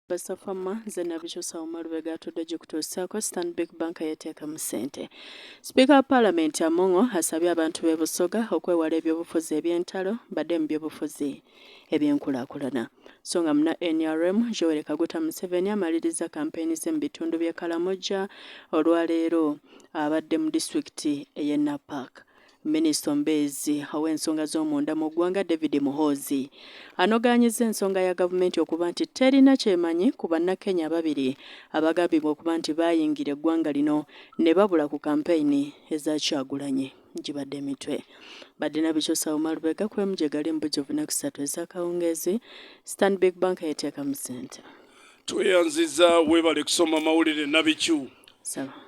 Basafama nze nabikyusa wama lubega atudde gikutuusaako Stanbic Bank yeteekamu ssente. Sipiika wa Palamenti Among'o asabye abantu b'e Busoga okwewala ebyobufuzi eby'entalo badde mu byobufuzi eby'enkulaakulana. So nga muna nrm Yoweri Kaguta Museveni amalirizza kampeyini ze mu bitundu by'e Kalamoja olwaleero abadde mu disitulikiti ey'e Napak. Minisita omubeezi ow'ensonga z'omunda mu ggwanga David Muhoozi anogaanyizza ensonga ya gavumenti okuba nti terina kyemanyi ku bannakenya ababiri abagambibwa okuba nti baayingira eggwanga lino ne babula ku kampeyini eza Kyagulanyi. Gibadde emitwe. Badina Bichusa Umar Lubega ku MJ Gali mu bujjuvu ennaku ssatu ez'akawungeezi. Stanbic Bank yeteekamu ssente. tweyanziza webale kusoma mawulire nabikyu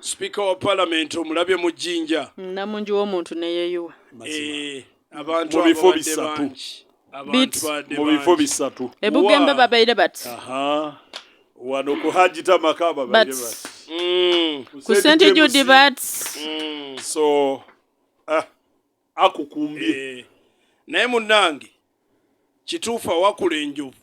sipiika wa palamenti omulabye mu jjinja mm, namungi womuntu neyeyuwa eh, abantu mubifo bisatu mubifo bisatu ebugembe babeire bati wano ku hajita maka babeire bati mm. ku sente judi bati mm. so ah, akukumbye eh, naye munange kituufu awakula enjovu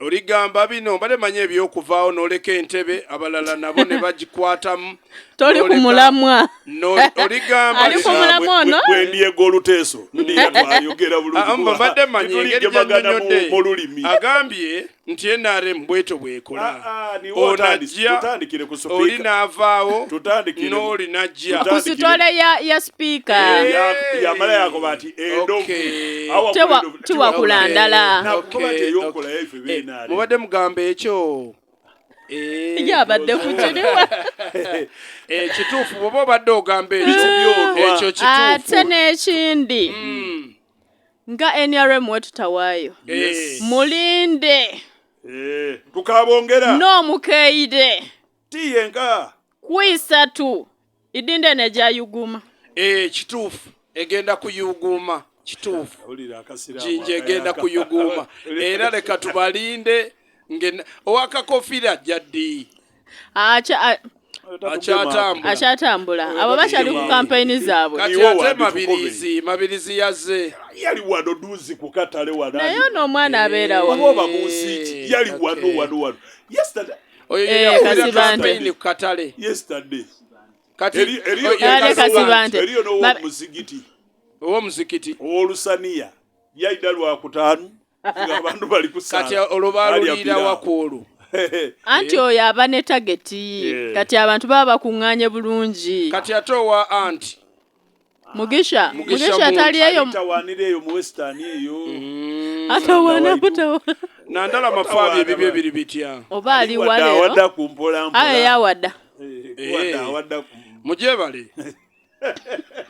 Oligamba bino mbadde manyi ebyokuvaawo noleka entebe abalala nabo ne bagikwatamu toli ku mulamwa oligambali ku mulamwa ono bwe ndiyega oluteeso ndiyatwayogera bulungimbadde ah, manyi engeri gyanyonyodde olulimi agambye nti nrm bweto bwekola ah, ah, onajja oli naavaawo n'oli najja ku sitole ya sipiika eh, yamala yakoba nti endovu tiwakula ndala eh, mubadde mugamba ekyo eh, yabadde kukiriwa eh, kituufu bwoba obadde ogamba ekyo ate n'ekindi hmm. nga nrm wetutawaayo mulinde tukabongera n'omukeeyide tiyenga kwisatu idinda eno egyayuguma ee eh, kituufu egenda kuyuguuma kituufu jinja egenda kuyuguuma era leka tubalinde owakakofira ajja ddi akyatambula abo bakyali ku kampeyini zaabwe kati ate mabirizi mabirizi yazze yali wano duzi ku katale wanaye ono omwana abeerawo oba obamuuziiki yali wano wano wano yesterday oyo Eh, yeyakulira Kasibante. kampeyini ku katale yesterday kati Eri- eriyo- oyo Yale Kasibante. Kasibante. eriyo Ba- n'owomuzigiti ow'omuzikiti owolusaniya yaida lwakutaano nga abantu bali kati kusaala olwo baluliira wakwolwo anti oyo aba ne tageti Yeah. kati abantu baba bakuŋŋaanye bulungi kati ate owa anti Mugisha, Mugisha atali eyo tawanira eyo mu western eyo. Mm. Atawana kutawa. Nandala mafabi ebibye biri bitya. Oba ali wale. Wada kumpola mpola. Aye ya wada. Eh, wada eh. wada. Mujebale.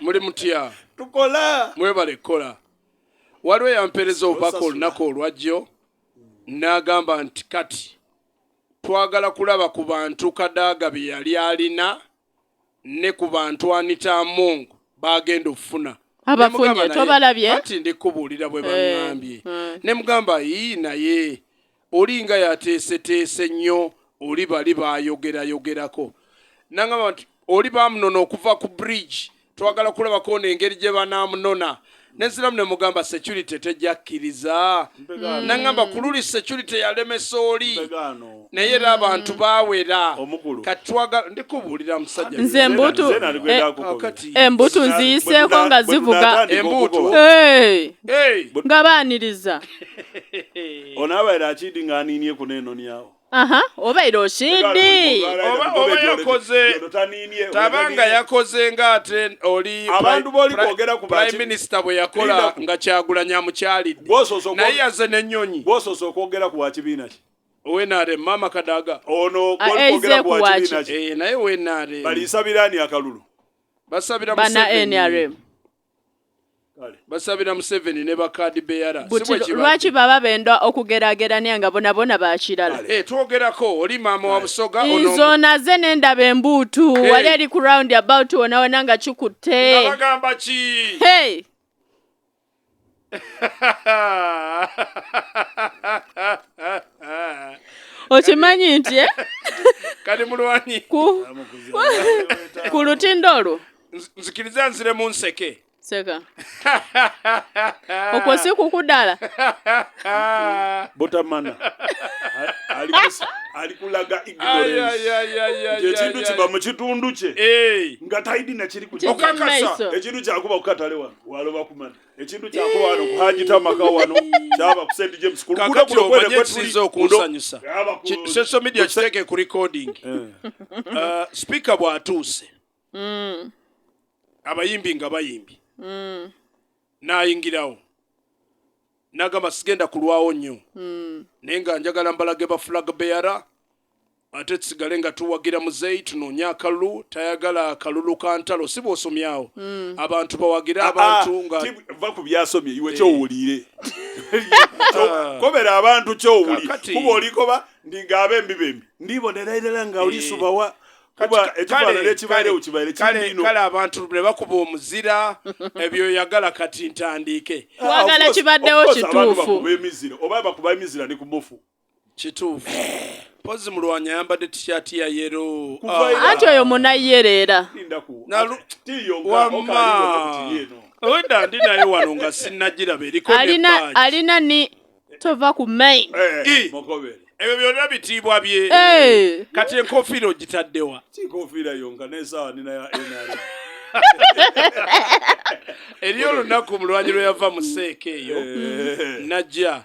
Muli mutya. Tukola. Mwebale kola. Waliwo yampereza obubaka olunaku olwajjo n'agamba nti kati twagala kulaba ku bantu Kadaga bye yali alina ne ku bantu Anita Among baagenda okufuna abafunye tobalabye anti ndi kubuulira bwe baŋŋambye eh, eh. ne mugamba yii naye olinga yateeseteese nnyo oli bali baayogerayogerako nangamba nti oli baamunona okuva ku bridge twagala kulabako ono engeri gye banaamunona neziramu ne mugamba security tejja kkiriza mm. nangamba ku luli security yalemesa oli naye era abantu mm. bawera katwaga ndikubuulira musajja nze embutu eh, embutu nziyiseeko nga zivuga embutu nga baaniriza onaabaera akidi nga aniinie kuneeno nyawo aha oba era osidi oba oba yakoze taba nga yakoze nga ate oli abantu boli kwogera ku prime minister bwe yakola nga kyagulanya amukyalidde naye yaze n'ennyonyi gwosoose okwogera ku wakibiina ki wenare mama kadaga ono ah, eh, kwogera ku wakibiina ki eh, naye wenare baliisabira ani akalulu basabira bana nrm basabira museveni ne bakadi beyara lwaki baba benda okugeragerania nga bonabona bakirala eh, twogerako oli maama wa busoga nzo naze nendaba embuutu hey. Eh. wali ali ku round about wonawona nga kikutte bagamba ki hey. okimanyi nti eh? kati mulwanyi ku lutindo olwo nzikiriza nzire mu nseke seka okwo si kukudala botamana alikulaga ignoranceekintu kiba mu kitundu kye nga taidi nakiri ekintu kyakuba kukatale wano waloba kumana ekintu kyako wano kuhajita amaka wano kyaba ku St James ku luguudo kuno kwene kwe tulize okunsanyusa social media kiteeke ku recording eh. uh, speaker bw'atuuse mm. abayimbi nga bayimbi mm. n'ayingirawo n'agamba sigenda kulwawo nnyo mm. naye nga njagala mbalage ba flag bearer Ate tusigale nga tuwagira muzeyi tunoonye akalulu tayagala kalulu ka ntalo si bwosomye awo hmm. abantu bawagire ah, ah, abantu nga va ku byasomye iwe eh. kyowulire ah. kobera abantu kyowuli kuba olikoba ndinga abembi bembi ndibonera irala nga olisubawa eh. kuba ekifaanana ekibaalewo kibaire kindiino kale abantu ne bakuba omuzira ebyo yagala kati ntandiike wagala kibaddewo kituufu emizira oba bakuba emizira ne ku mufu kituufu mpozi mulwanyi ayambadde tishati ya yero anti oyo munayere era owedda ndi naye wano nga sinagiraba eriko alina ni tova ku main eh, ebyo byonna bitiibwa bye eh. kati enkofiira ogitaddewa eriyo olunaku mulwanyi lwe yava mu seeka eyo eh. najja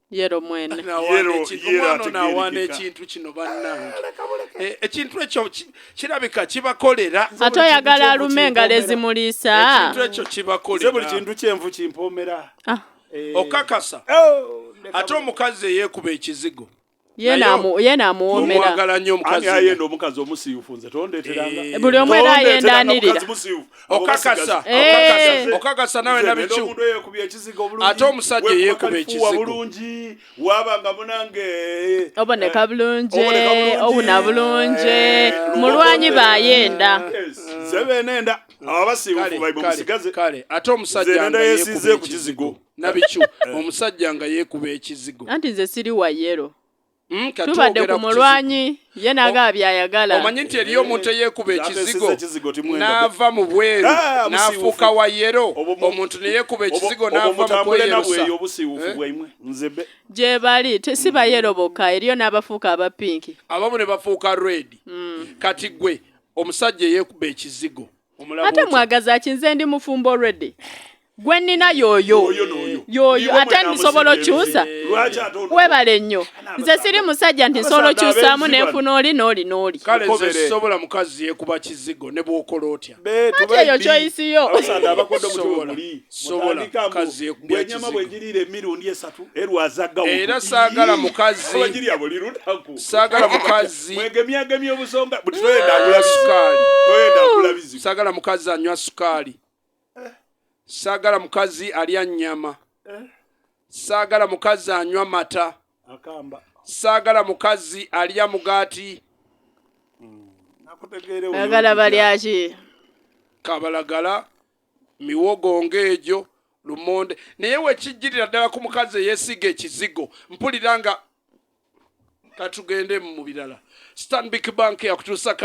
yero mwene omwana ono awaana ekintu kino bannange ah, eh, ekintu ekyo kirabika kibakolera ate oyagala alume engalo ezimuliisa ekintu ekyo kibakolera buli kintu kyenvu kimpoomera ah. eh. okakasa oh, ate omukazi eyeekuba ekizigo yena amuwomerayenda omukazi omusiyufu nze tondeteranga eh. buli omu era ayendanirira okakasa okakasa eh. nawe nabicu ate omusajja eyekuba ekizigobulungi wabanga munange eh, oboneka bulungi obuna bulungi eh, mulwanyi bayenda zebenenda ababasibufubaibumusigazekale ate omusajja yesize ku kizigo nabicu omusajja nga yekuba ekizigo anti nze siri wayero Hmm, tubadde ku mulwanyi ye nagaba byayagala omanyi nti eriyo omuntu eyekuba ekizigo n'ava mu bweru ah, n'afuuka wa yero omuntu neyekuba ekizigo n'ava mu kweyerusa eh? gye bali si bayero bokka eriyo n'abafuuka aba pinki abamu ne bafuuka redi hmm. kati gwe omusajja eyekuba ekizigo ate mwagazaki nze ndi mufumbo already gwe nnina yoyo yoyo ate nsobola okyusa webale nnyo nze siri musajja nti nsobola okyusaamu nenfuna oli nooli nooli sobola mukazi yekuba kizigo ne bwokola otya ati eyo kyoyisiyo era saagala mukazi saagala mukazi mukazi mwegemyagemya obusonga buti toyenda agula sukaali toyenda agula bizibu sagala mukazi anywa sukaali eh. sagala mukazi alya nyama eh. sagala mukazi anywa mata akamba sagala mukazi alya mugati hmm. agala balyaki kabalagala miwogo ng'egyo lumonde naye wekijjirira ddala ku mukazi eyesiga ekizigo mpulira nga katugende mu birala stanbic bank yakutuusa